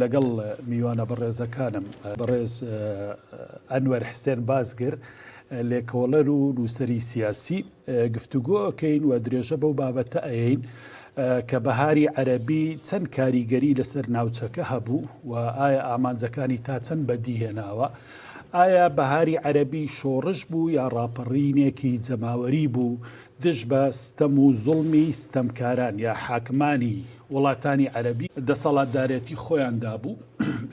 لەگەڵ میوانە بەڕێزەکانم، بەڕێز ئەنوەر حسێن بازگر، لێکۆڵەر و نووسەری سیاسی، گفتوگۆ ئەکەین و درێژە بەو بابەتە ئەین کە بەهاری عەربی چەند کاریگەری لەسەر ناوچەکە هەبوو و ئایا ئامانجەکانی تا چەند بەدیهێناوە. ئایا بەهاری عەربی شۆڕش بوو یا ڕاپەڕینێکی جەماوەری بوو دژ بە ستەم و زوڵمی ستەمکاران یا حاکمانی وڵاتانی عەرەبی دەسەڵاتدارێتی خۆیان دابوو.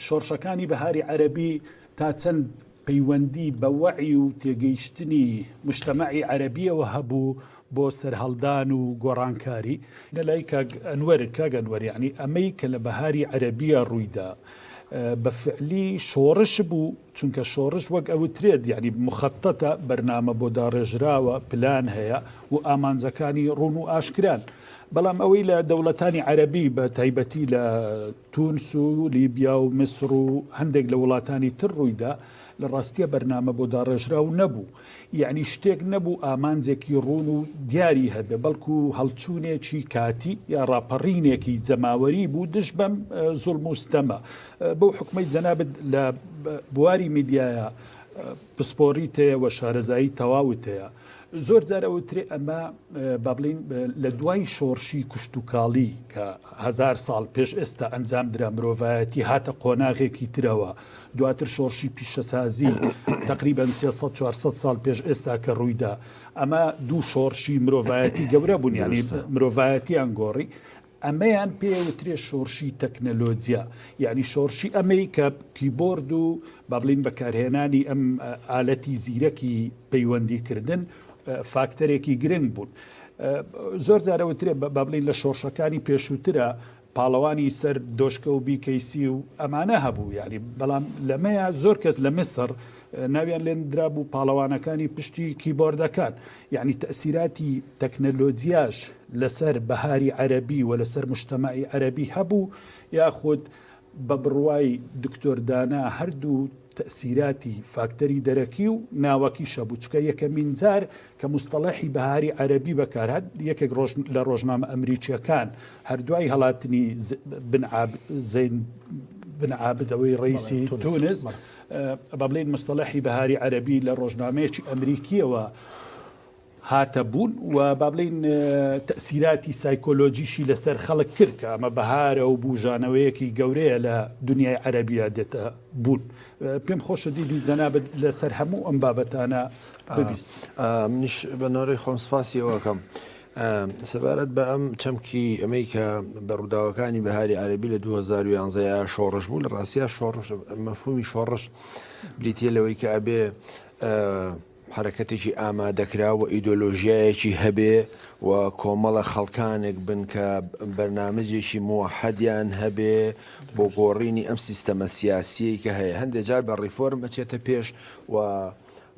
شۆڕشەکانی بەهاری عەرەبی تا چەند پەیوەندی بە وەعی و تێگەیشتنی موجتەمەعی عەرەبییەوە هەبوو بۆ سەرهەڵدان و گۆڕانکاری؟ لە لای کاک ئەنوەر، کاک ئەنوەر یەعنی ئەمەی کە لە بەهاری عەرەبییە ڕوویدا بە فعلی شۆڕش بوو؟ چونکە شۆڕش وەک ئەوترێت یانی مخططە، بەرنامە بۆ داڕێژراوە، پلان هەیە و ئامانجەکانی ڕوون و ئاشکران. بەڵام ئەوەی لە دەوڵەتانی عەرەبی بە تایبەتی لە تونس و لیبیا و میسر و هەندێک لە وڵاتانی تر ڕوویدا، لە ڕاستیا بەرنامە بۆ داڕێژراو نەبوو. یەعنی شتێک نەبوو ئامانجێکی ڕوون و دیاری هەبێ، بەڵکو هەڵچوونێکی کاتی یا ڕاپەڕینێکی جەماوەری بوو دژ بەم زوڵم و ستەمە. بەو حوکمەی جەنابت لە بواری میدیایا پسپۆڕیت هەیە و شارەزایی تەواوت هەیە، زۆر جار ئەوترێ ئەمە با بڵێین لە دوای شۆڕشی کوشتوکاڵی کە هەزار ساڵ پێش ئێستا ئەنجام درا مرۆڤایەتی هاتە قۆناغێکی ترەوە، دواتر شۆڕشی پیشەسازی تەقریبەن سێ سەد چوار سەد ساڵ پێش ئێستا کە ڕوویدا ئەمە دوو شۆڕشی مرۆڤایەتی گەورە بوون یانی دروستە. مرۆڤایەتیان گۆڕی ئەمەیان پێ وترێ شۆڕشی تەکنەلۆجیا یعنی شۆڕشی ئەمەی کە کیبۆرد و با بڵین بەکارهێنانی ئەم ئە، ئالەتی زیرەکی پەیوەندیکردن ئە، فاکتەرێکی گرنگ بوون ئە، زۆر جارە وترێ بە، با بڵین لە شۆڕشەکانی پێشووترە پاڵەوانی سەر دۆشکە و بیکەیسی و ئەمانە هەبوو یانی بەڵام لەمەیە زۆر کەس لە میسر ناویان لێن درابوو پاڵەوانەکانی پشتی کیبۆردەکان یعنی تەسیراتی تەکنەلۆجیاش لەسەر بەهاری عەربی و لەسەر مشتەمەعی عەربی هەبوو یاخود بە بڕوای دکتۆر دانا هەردوو تەئسیراتی فاکتەری دەرەکی و ناوەکیشە بوو، چونکە یەکەمین جار کە موستەڵەحی بەهاری عەرەبی بەکارهات، یەکێک لە ڕۆژنامە ئەمریکییەکان هەر دوای هەڵاتنی زەین بن عابد ەوەی ڕەیسی تونس، بەڵێن موستەڵەحی بەهاری عەرەبی لە ڕۆژنامەیەکی ئەمریکییەوە، هاتە بوون و با بڵێین تەئسیراتی سایکۆلۆجیشی لە سەر خەڵک کرد کە ئەمە بەهارە و بووژانەوەیەکی گەورەیە لە دونیای عەرەبیا دێتە بوون. پێم خۆشە دیدی جەنابت لە سەر هەموو ئەم بابەتانە ببیستی. منیش بە نۆرەی خۆم سپاسی ئەوە کەم. سەبارەت بە ئەم چەمکی ئەمەی کە بە ڕووداوەکانی بەهاری عەربی لە 2011 شۆڕش بوو لە ڕاستیا شۆڕش مەفهومی شۆڕش بریتە لەوەی کە ئەبێ حەرەکەتێکی ئامادەکراو و ئیدۆلۆژیایەکی هەبێ و کۆمەڵە خەڵکانێک بن کە بەرنامجێکی موەحەدیان هەبێ بۆ گۆڕینی ئەم سیستەمە سیاسیەی کە هەیە هەندێ جار بە ڕیفۆرم ئەچێتە پێش و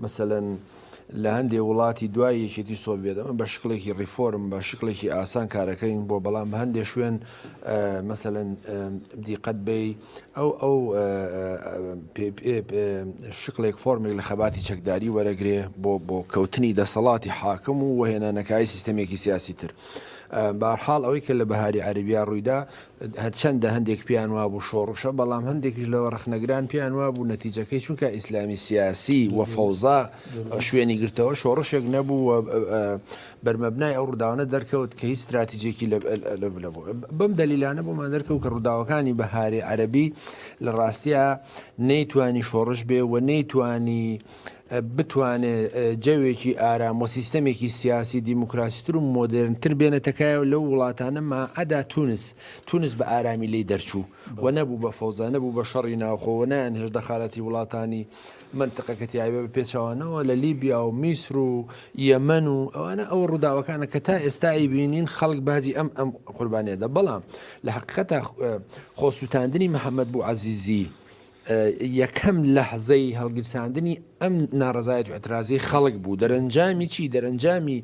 مەسەلەن لە هەندێ وڵاتی دوای یەکێتی سۆڤیەت ئەمە بە شکڵێکی ڕیفۆرم بە شکڵێکی ئاسان کارەکەین بۆ بەڵام هەندێ شوێن مەسەلەن دیقەت بی ئەو ئەو شکلێک فۆرمێک لە خەباتی چەکداری وەرەگرێ بۆ بۆ کەوتنی دەسەڵاتی حاکم و وەهێنانەکای سیستەمێکی سیاسی تر بارحاڵ ئەوەی کە لە بەهاری عربیا ڕوویدا هەرچەندە هەندێک پیان وا بوو شۆڕشە بەڵام هەندێکیش لەوە ڕخنەگران پیان وا بوو نەتیجەکەی چونکە ئیسلامی سیاسی و فەوزا شوێنی گرتەوە شۆڕشێک نەبوو بەرمەبنای ئەو ڕووداوانە دەرکەوت کە هیچ ستراتیجێکی لەبوو. بەم دەلیلانە بۆمان دەرکەوت کە ڕووداوەکانی بەهاری عەرەبی لە ڕاستیا نەیتوانی شۆڕش بێ و نەیتوانی بتوانێ جەوێکی ئارام و سیستەمێکی سیاسی دیموکراسیتر و مۆدرنتر بێنێتەکایەوە لەو وڵاتانە ماعەدا تونس تونس بە ئارامی لی دەرچوو و نەبوو بە فەوزا نەبوو بە شەڕی ناوخۆوە نایان هێش دەخالەتی وڵاتانی مەنتقە کە تیایبە بە پێچەوانەوە لە لیبیا و میسر و یەمەن و ئەوانە ئەوە ڕووداوەکانە کە تا ئێستا ئەیبینین خەڵک باجی ئەم ئەم قوربانیە دە بەڵام لە حقیقەتە خۆسووتاندنی محەممەد بوو عزیزی یەکەم لەحزەی هەڵگیرساندنی ئەم ناڕزایەت و ئەترازی خەڵک بوو دەرەنجامی چی دەرەنجامی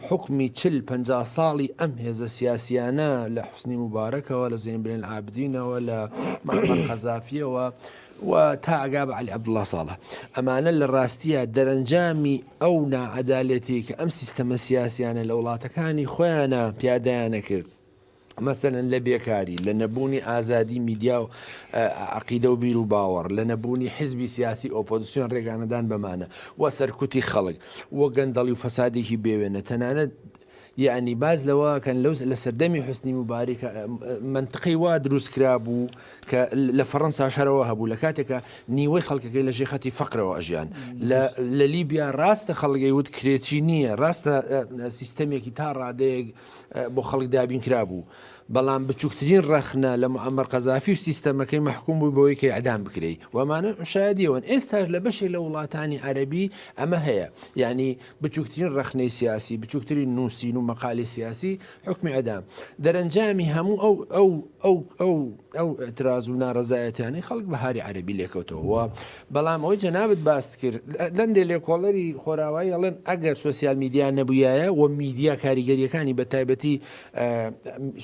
حکمی چل پ ساڵی ئەم هێزە سیاسیانە لە حوسنی مبارەکەوە لە زین بلێن ئابدینەوە لە قەزافیەوە و تا ئەگا بە عەلی عەبدوڵا ساڵە. ئەمانە لە ڕاستیا دەرەنجامی ئەو ناعەدالەتیەی کە ئەم سیستەمە سیاسیانە لە وڵاتەکانی خۆیانا پیادایان ئەکرد، مەسەلەن لە بێکاری، لە نەبوونی ئازادی میدیا و عەقیدە و بیر و باوەڕ، لە نەبوونی حیزبی سیاسی ئۆپۆزسیۆن ڕێگانەدان بەمانە و سەرکوتی خەڵک و گەندەڵی و فەسادێکی بێوێنە تەنانەت یەعنی باس لەوە ئەکەن لەو لە سەردەمی حوسنی موبارک ە مەنتقەی وا دروست کرابوو کە لە فەڕەنسا شەرەوە هەبوو لە کاتێکە نیوەی خەڵکەکەی لە ژێ خەتی فەقرەوە ئەژیان لە لیبیا ڕاستە خەڵگەی وت کرێچی نییە ڕاستە سیستەمێکی تا ڕادەیەک بۆ خەڵک دابین کرابوو بەڵام بچووکترین ڕەخنە لە معمەر قەزافی و سیستەمەکەی مححکوم بوو بۆی کە ئەدام بکرێی وەمانە شایدیەوەن ئێستاش لە بەشێک لە وڵاتانی عەربی ئەمە هەیە یعنی بچوکترین ڕەخنەی سیاسی، بچوکترین نوسین و مەقالەی سیاسی حوکمی ئەدام. دەرەنجامی هەموو ئەو ئەو ئەو ئەو ئەو ئیعتراز و نارەزایەتیانەی خەڵک بەهاری عەرەبی لێکەوتەوە و بەڵام ئەوەی جەنابت باست کرد لەندێ لێکۆڵەری خۆراوایی ئەڵێن ئەگەر سۆسیال میدیا نەبوویایە و میدیا کاریگەریەکانی بە تایبەتی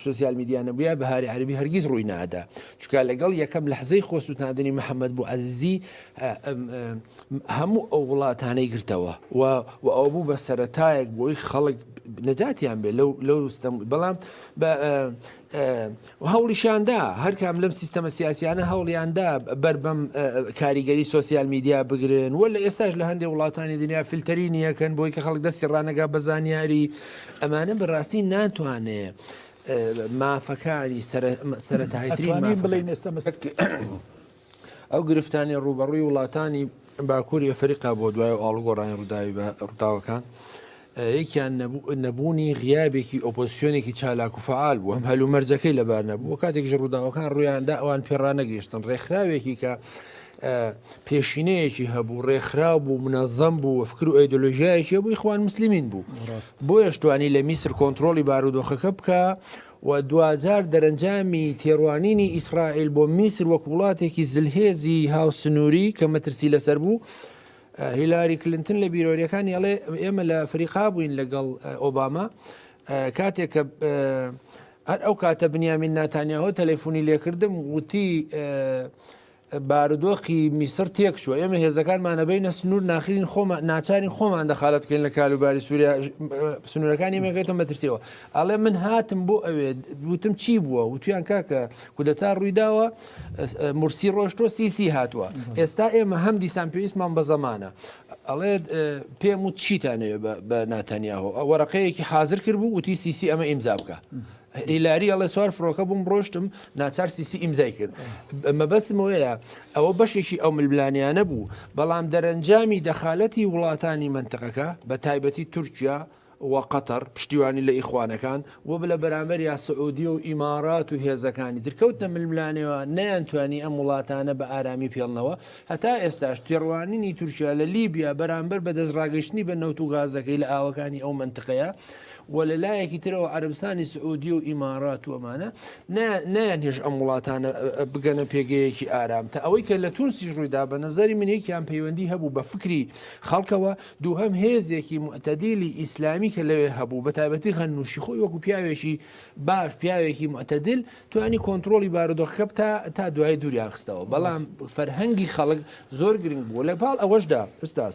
سۆسیال میدیا نەبووە بەهاری عەربی هەرگیز ڕووی نادا چکا لەگەڵ یەکەم لەحزەی خۆسووتاندنی محەممەد بوو عزیزی هەموو ئەو وڵاتانەی گرتەوە و و ئەو بوو بە سەتایەک بۆی خەڵک نەجاتیان بێ لەو لەو ستەم بەڵام هەوڵیشاندا هەرکام لەم سیستەمە سیاسیانە هەوڵیاندا بەربەم کاریگەری سوسیال میدیا بگرن و لە ئێستاش لە هەندێک وڵاتانی دنیا فلتەری نیەکەن بۆی کە خەڵک دەستی ڕانەگا بە زانیاری ئەمانە بەڕاستی ناتوانێ مافەکانی سەرەتایترین بڵێن ئێستا ئەو گرفتانەی ڕووبەڕووی وڵاتانی باکووری ئەفریقا بۆ دوای و ئاڵگۆڕانی ڕووداوی بە ڕووداوەکان یەکیان نەبوونی غیابێکی ئۆپۆسیۆنێکی چالاک و فعال بوو هەم هەلومەرجەکەی لەبار نەبوو کاتێک ژ ڕووداوەکان ڕویاندا ئەوان پێڕانەگەیشتن ڕێکخراوێکی کە پێشینەیەکی هەبوو ڕێکخرا بوو منەزەم بوو وەفکر و ئەیدۆلۆژیایەکی بووی خوان مسللمین بوو بۆ یشتوانی لە میسر کۆنتترۆلی بارودۆخەکە بکە و دواجار دەرەنجامی تێڕوانینی ئیسرائیل بۆ میسر وەک وڵاتێکی زلهێزی هاوسنووری کە مەترسی لەسەر بوو. هیلاری کلنتن لە بیرۆریەکانی ئەڵێ ئێمە لە فریقا بووین لەگەڵ ئۆباما کاتێک کە هەر ئەو کاتە بنیامین ناتانیاهۆ تەلەفۆنی لێکردم وتی بارودۆخی میسر تێکچووە، ئێمە هێزەکانمان نەبەینە سنوور ناخرین خۆمان ناچارین خۆمان دەخالەت بکەین لە کالوباری سووریا سنوورەکانی مێگەێتە مەترسیەوە ئەڵێ من هاتم بۆ ئەوێ وتم چی بووە وتیان کاکە کودەتا ڕوویداوە مرسی ڕۆشتۆ سیسی هاتووە ئێستا ئێمە هەم دیسان پێویستمان بە زەمانە ئەڵێ پێم و چیتانەوێ بە ناتەنیاهۆ ئەوەرەقەیەکی حاضر کرد بوو وتی سیسی ئەمە ئیمزا بکە هیلاری ئەڵێ سوار فڕۆکە بووم ڕۆشتم ناچار سیسی ئیمزای کرد مەبەستم وەیە ئەوە بەشێکی ئەو ململانیانە بوو بەڵام دەرەنجامی دەخالەتی وڵاتانی منتقەکە بە تایبەتی تورکیا و قەتەر پشتیوانی لە ئیخوانەکان و بلە بەرامبەر یا سعودی و ئیمارات و هێزەکانی درکەوتنە ململانەوە نەیانتوانی ئەم وڵاتانە بە ئارامی پێڵنەوە هەتا ئێستاش تێڕوانینی تورکیا لە لیبیا بەرامبەر بە دەستڕاگەشتنی بە نەوت و گازەکەی لە ئاوەکانی ئەو منتقەیە وە لە لایەکی ترەوە عەرەبستانی سعودیە و ئیمارات و ئەمانە نایانهێش ئەم وڵاتانە بگەنە پێگەیەکی ئارام تا ئەوەی کە لە تونسیش ڕوویدا بە نظری من یەکیان پەیوەندی هەبوو بە فکری خەڵکەوە دووهم هێزێکی معتەدیلی ئیسلامی کە لەوێ هەبوو بە تایبەتی غەنوشی خۆی وەکو پیاوێکی باش پیاوێکی معتەدل توانی کۆنتترۆلی بارودۆخەکە بتا تا دوای دووریان خستەوە بەڵام فەرهەنگی خەڵک زۆر گرنگ بوو لە پاڵ ئەوەشدا ئوستاز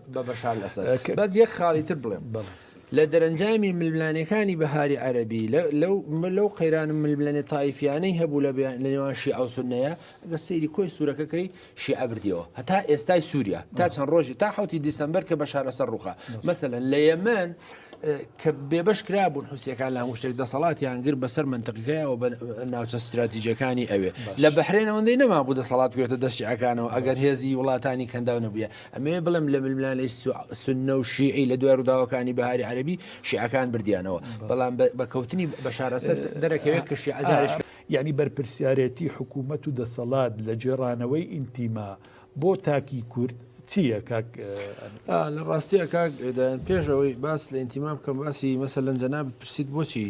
بە بەشار لەسەد بەس یەک خاڵی تر بڵێم لە دەرەنجامی ململانەکانی بەهاری عەربی لەو قەیران ململێنێ تایفیانەی هەبوو لە لە نێوان شی ئەو سنەیە گە سەیری کۆی سوورەکەکەی شی ئەبردیەوە هەتا ئێستای سووریا تا چەند ڕۆژی تا حوتی دیسمبەر کە بە شارەسەر ڕوخە مەسەن لە یەمەن کە بێبش کرا بوون حوسەکان لە هەمشتێک دەسەڵاتیان گر بەسەر منتەقیکەیەوە بە ناوچە استراتیجەکانی ئەوێ لە بەحرێنەوەندەی نەما بوو دەسەڵات گوێتە دەستی ئەکانەوە ئەگەر هێزی وڵاتانی کەنداو نەبووە ئەمەوێ بڵێم لە ململانێی سوننە و شیعی لە دوای ڕووداوەکانی بەهاری عەرەبی شیعەکان بردیانەوە، بەڵام بە کەوتنی بەشار ئەسەد دەرەکەوێت کە شیعە جارێ. یەعنی بەرپرسیارێتی حکوومەت و دەسەڵات لە گێڕانەوەی ئینتیما بۆ تاکی کورد چییە کاک ئەمیر؟ لە ڕاستییا کاک دایان پێش ئەوەی باس لە ئینتیما بکەم باسی مەسەلەن جەنابت پرسیت بۆچی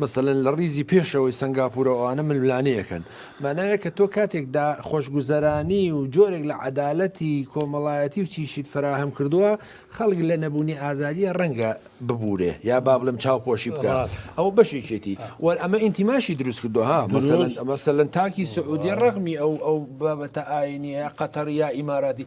مەسەلەن لە ڕیزی پێشەوەی سەنگاپورە ئەوانە ململانێیەکەن مانایە کە تۆ کاتێک دا خۆشگوزەرانی و جۆرێک لە عەدالەتی کۆمەڵایەتی و چیشیت فەراهەم کردووە خەڵک لە نەبوونی ئازادیە ڕەنگە ببورێ یا با بڵێم چاوپۆشی بکا ئەوە بەشێکێتی و ئەمە ئینتیماشی دروست کردووە ها مەسەلەن مەسەلەن تاکی سعودیە ڕەغمی ئەو ئەو بابەتە ئاینیە قەتەر یا ئیماراتی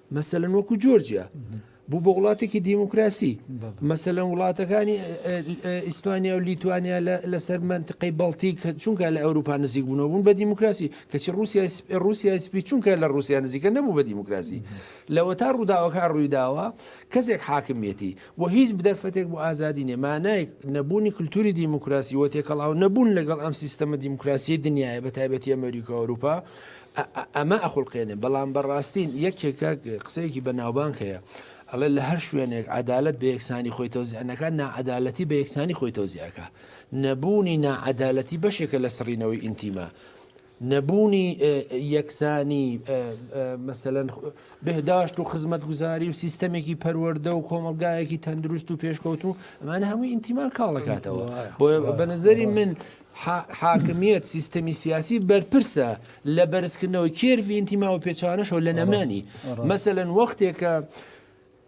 مەسەلەن وەکو جۆرجیا بوو بە وڵاتێکی دیموکراسی مەسەلەن وڵاتەکانی ئیسپانیا و لیتوانیا لەسەر منتقەی بەڵتیک چونکە لە ئەوروپا نزیک بوونەوە بوون بە دیموکراسی کەچی رووسیا رووسیا سپی چونکە لە رووسیا نزیکە نەبوو بە دیموکراسی لەوە تا ڕووداوەکان ڕوویداوە کەسێک حاکمیەتی و هیچ بدەرفەتێک بۆ ئازادی نێ مانایک نەبوونی کللتوری دیموکراسی و تێکەڵاو نەبوون لەگەڵ ئەم سیستەمە دیموکراسی دنیاە بە تایبەتی ئەمریکا ئەوروپا ئا ئەمە ئەخوڵقێنێ بەڵام بەڕاستی یەکێکە قسەیەکی بەناوبانگ هەیە ئەڵێ لە هەر شوێنێک عدالت بە یەکسانی خۆی تۆزیانەکە ناعدالەتی بە یەکسانی خۆی تۆزیەکە نەبوونی ناعدالەتی بەشێکە لە سڕینەوەی ئینتیما نەبوونی یەکسانی مەسەەن بهداشت و خزمەت گوزاری و سیستەمێکی پەروەەردە و کۆمەلگایەکی تەندروست و پێشکەوت و ئەمانە هەمووی ئینتیمان کاڵەکاتەوە بۆ بەنەزەری من حاکمییەت سیستەمی سیاسی بەرپرسە لە بەرزکردنەوەی کێرڤی ئینتیما و پێچانەشەوە لە نەمانی مەسەلەن وەختێکە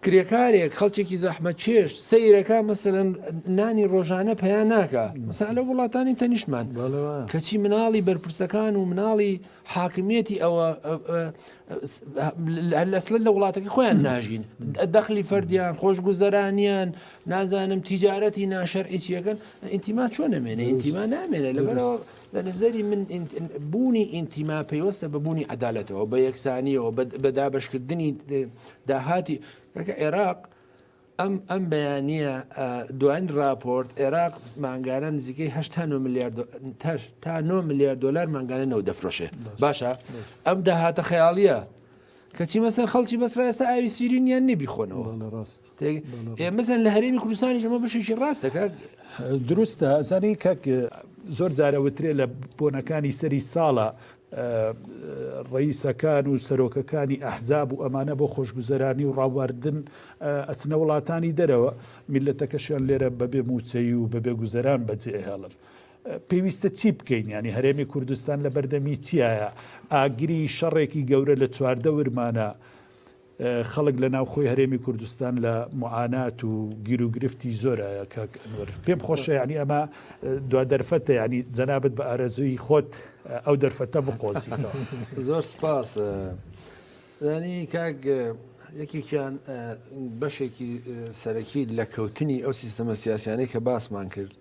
کرێکارێک خەڵکێکی زەحمە چێش سەیرەکە مەسەرەن نانی ڕۆژانە پیا ناکە مەسا لە وڵاتانی تەنیشمان کەچی مناڵی بەرپرسەکان و مناڵی حاکمیەتی ئەوە لەسل لە وڵاتەکە خۆیان ناژین دەخلی فەردیان خۆشگوزەرانیان نازانم تیجارەتی ناشەرعیچیەکەن ئینتیما چۆن نەمێنێ ئینتیما نامێنێ لەبەرەوە لە نظری من بوونی ئینتیما پەیوەستە بە بوونی عدالەتەوە بە یەکسانیەوە بە دابشکردنی داهاتی کەکە عێراق ئەم ئەم بەیانە دوان راپۆرت عێراق مانگانە نزیکەی هه میلیارد تا 9 میلیارد دلار مانگانە نەوە دەفرۆشێ باشە ئەم داهاتە خەیاڵیە کەچی مەسەر خەڵکی بەسرا ئێستا ئاوی سیرینیان نبیخۆنەوە ڕاست. مەزن لە هەرێمی کوردستانی ژەمە بشێکی ڕاست دەکات دروستە ئەزانی کەک زۆر جارەوترێ لە بۆنەکانی سەری ساڵە ڕئیسەکان و سەرۆکەکانی ئەحزاب و ئەمانە بۆ خۆشگوزەرانی و ڕاواردن ئەچنە وڵاتانی دەرەوە میلەتەکەشیان لێرە بەبێ موچەی و بەبێ گوزەران بەجێهێڵن. پێویستە چی بکەین ینی هەرێمی کوردستان لە بەردەمی چیایە ئاگری شەڕێکی گەورە لە چواردە ورمانە خەڵک لە ناوخۆی هەرێمی کوردستان لە معانات و گیروگرفتی زۆرە کاک ئەنوەر پێم خۆشە یعنی ئەمە دو دەرفەتە یعنی جەنابەت بە ئارەزووی خۆت ئەو دەرفەتە بقۆزیتەوە زۆر سپاس ینی کاک یەکێکیان بەشێکی سەرەکی لە کەوتنی ئەو سیستەمە سیاسیانەی کە باسمان کرد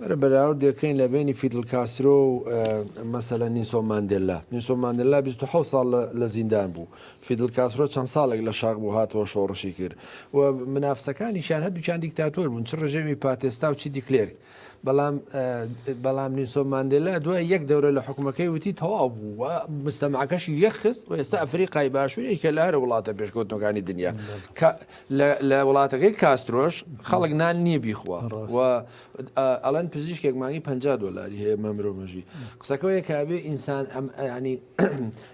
بەرە بەراوردێکەین لە بەینی فیدل کاسترۆ و مەسەلەن نیسۆ ماندێللا نیسۆ ماندێللا 26 ساڵ لە- لە زیندان بوو فیدل کاسترۆ چەند ساڵێک لە شاخ بوو هاتەوە شۆڕشی کرد و منافسەکانیشیان هەردووکیان دیکتاتۆر بوون چ ڕژێمی پاتێستا و چی دیکلێرک بەڵام ئە، بەڵام نیسۆ ماندێللا دوای یەک دەورە لە حکومەکەی وتی تەواو بوو و مستەماکەشی یەخست و ئێستا ئەفریقای باشوورێکە لە هەرە وڵاتە پێشکەوتنەکانی دنیا کە لە وڵاتەکەی کاسترۆش خەڵک نان نیە بیخوا و ئەڵێن پزیشکێک مانگی پ دۆلاری هەیە مە مرۆڤ مەژی قسەکەەیە کابێ ئینسان ئەم ئەنی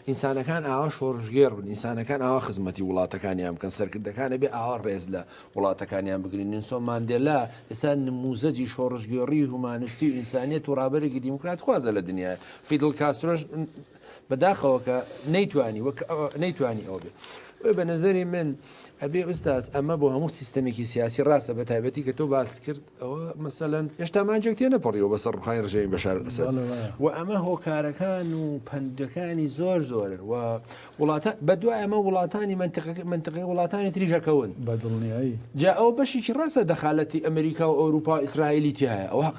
ئینسانەکان ئاوا شۆڕژگێر بن ئینسانەکان ئاوا خزمەتی وڵاتەکانیان بکەن سەرکردەکانە بێ ئاوا ڕێز لە وڵاتەکانیان بگرین نسۆ مادێلا ئێستا نموزەجی شۆڕژگێڕی هومانستی و ئینسانیت و ڕابەرێکی دیموکرات خوازە لە دنیا فیدل کاسترۆش بەداخەوە کە نەیتوانی وەک نەیتوانی ئەو بێ وێ بە نظری من ئەبێ ئوستاز ئەمە بۆ هەموو سیستمێکی سیاسی ڕاستە بە تایبەتی کە تۆ باس کرد ئەوە مەسەەن هێشتا ماجێک تێ نەپەڕیەوە بەسەر ڕخانی ڕژێوی بەشار ئەسەر و ئەمە هۆکارەکان و پندەکانی زۆر زۆرن و وڵاتە بە دوای ئەمە وڵاتانی منتقەکە منتقی وڵاتانی تریژەکەون بەدڵنیایی جا ئەو بەشێکی ڕاستە دەخالەتی ئەمریکا و ئەوروپا ئیسرائیلی تایە ئەو حق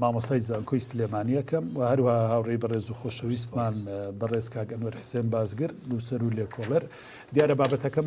مامۆستای زانکۆی سلێمانییەکەم و هەروەها هاوڕێی بەڕێز و خۆشەویستمان بەڕێز کاک ئەنوەر حسێن بازگر، نووسەر و لێکۆڵەر. دیارە بابەتەکەمان.